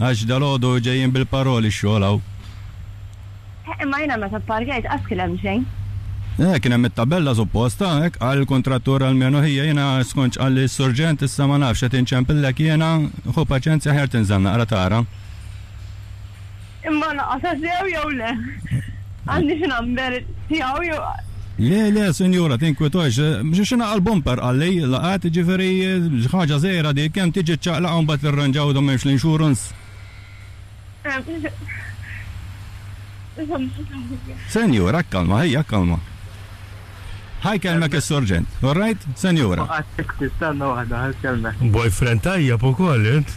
Għax dalgħodu ġejjin bil-paroli x-xogħol hawn. Eh, imma jiena meta pparkjajt qatt kien hemm xejn. Eh, kien hemm it-tabella suppost, ah, hekk qal il-kuntrattur almenu ħija, jiena skont x'qalli s-surġent issa ma nafx, qed inċempillek jiena, ħu paċenzja aħjar tinżel naqra tara. Imma naqqa' tassew jew le? Għandix number tiegħu jew. Le, le, sinjura, tinkwitawx. Xi xi naqqa' l-bumper qalli, laqgħet, jiġifieri xi ħaġa żgħira dik, kemm tiġi ċċaqlaqha u mbagħad tirranġaw idu m'hemmx l-insurance. Sinjura, kalma, ħija, kalma. Ħa jkellmek is-surġent, all right, sinjura. Tistenna waħda, ħa jkellmek. Boyfriend tajjeb ukoll int.